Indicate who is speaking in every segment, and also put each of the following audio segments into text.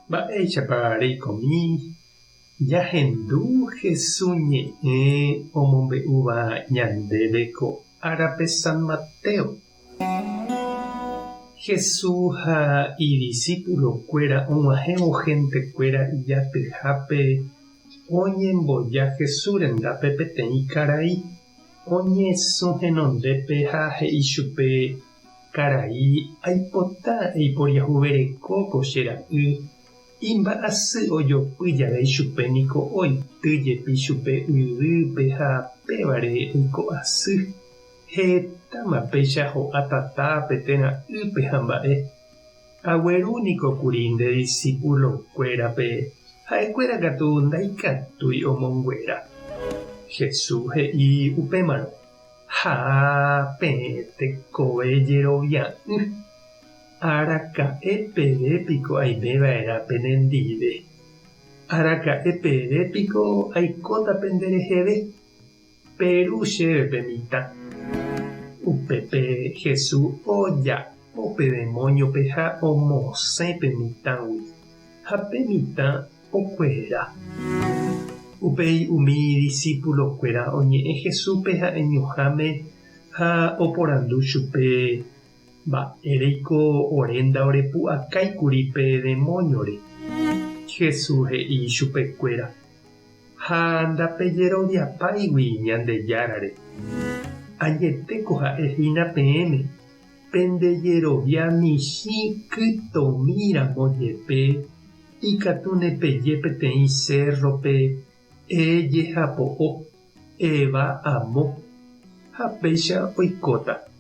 Speaker 1: Mba'éichapa reikomi jahendu Jesús ñe'ẽ omombe'úva ñandéve ko árape San Mateo? Jesús ha idisipulokuéra og̃uahẽvo hentekuéra ijatyhápe oñemboja Jesús rendápe peteĩ karai. Oñesũ henondépe ha he'i chupe, Karai, aipota eiporiahuvereko ko che ra'y. Imba'asy ojopy jave ichupe niko oity jepi chupe yvýpe ha pévare oiko asy. Hetáma péicha ho'a tatápe térã ýpe ha mba'e. Agueru niko kuri nde disípulokuérape, ha'ekuéra katu ndaikatúi omonguera. Jesús he'i upémarõ, Ha peẽ tekove jerovia'ỹ, araka'e peve piko aime va'erã penendive? Araka'e peve piko aikóta pende reheve? Peru chéve pe mitã. Upépe Hesu oja'o pe demóñope ha omosẽ pe mitãgui, ha pe mitã okuera. Upéi umi idisipulokuéra oñe'ẽ Hesúpe ha'eñoháme ha oporandu chupe, Mba'éreiko ore ndaorepu'akái kuri pe demóñore? Hesu he'i chupekuéra. Ha ndapejeroviapáigui Ñandejárare. Añetéko ha'e hína peẽme, pende jerovia michĩ kytomi ramo jepe, ikatu nepeje peteĩ cérrope, Ee jehapo'o, eeva amo, ha péicha oikóta.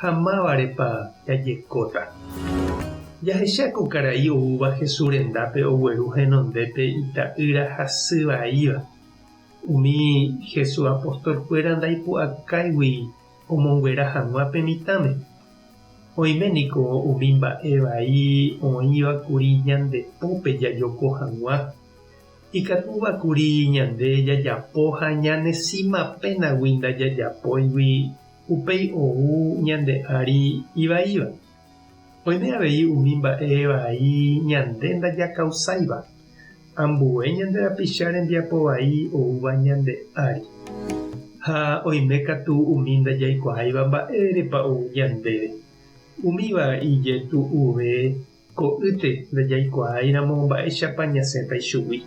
Speaker 1: ha mávarepa jajekóta. Jahecha ko karai oúva Jesús rendápe ogueru henondépe ita'ýra hasy vaíva. Umi Jesús apostolkuéra ndaipu'akáigui omonguera hag̃ua pe mitãme. Oime niko umi mba'e vai oĩva kuri ñande pópe jajoko hag̃ua. Ikatúva kuri ñande jajapo ha ñanesĩmapénagui ndajajapóigui Upéi ou ñande ári ivaíva. Oime avei umi mba'e vai ñande ndajakausáiva, ambue ñande rapicha rembiapo vai oúva ñande ári. Ha oime katu umi ndajaikuaáiva mba'érepa ou ñandéve. Umíva ijetu'uve ko'ýte ndajaikuaáiramo mba'éichapa ñasẽta ichugui.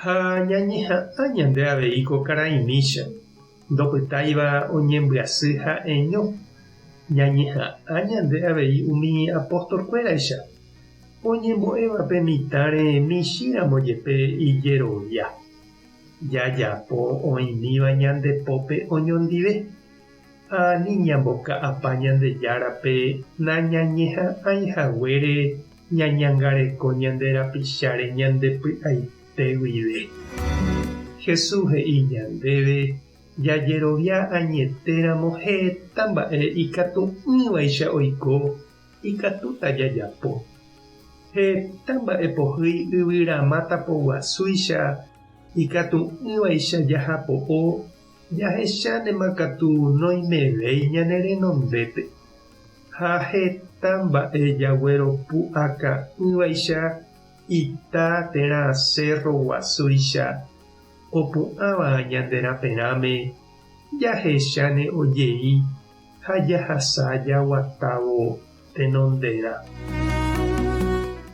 Speaker 1: Ha ñañeha'ã ñande avei ko karai mícha. Ndopytáiva oñembyasy ha'eño, ñañeha'ã ñande avei umi apóstolkuéraicha, oñembo'éva pe mitãre michĩramo jepe ijerovia. Jajapo oĩmíva ñande pópe oñondive, ha ani ñamboka'apa Ñandejárape nañañeha'ãi haguére ñañangareko ñande rapicháre ñande py'aite. pe guive. Jesús he'i ñandéve jajerovia añetéramo heta mba'e ikatu'ỹvaicha oiko ikatúta jajapo. Heta mba'e pohýi yvyramáta poguasúicha ikatu'ỹvaicha jajapo'o jahechántema katu noimevéi ñane renondépe. Ha heta mba'e jagueropu'aka'ỹvaicha Ita térã cérro guasúicha opu'ãva ñande raperãme, jahecháne ojei ha jahasa jaguatávo tenonderã.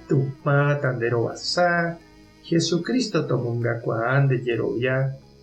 Speaker 1: Tupã tanderovasa, Jesucristo tomongakuaa nde jerovia.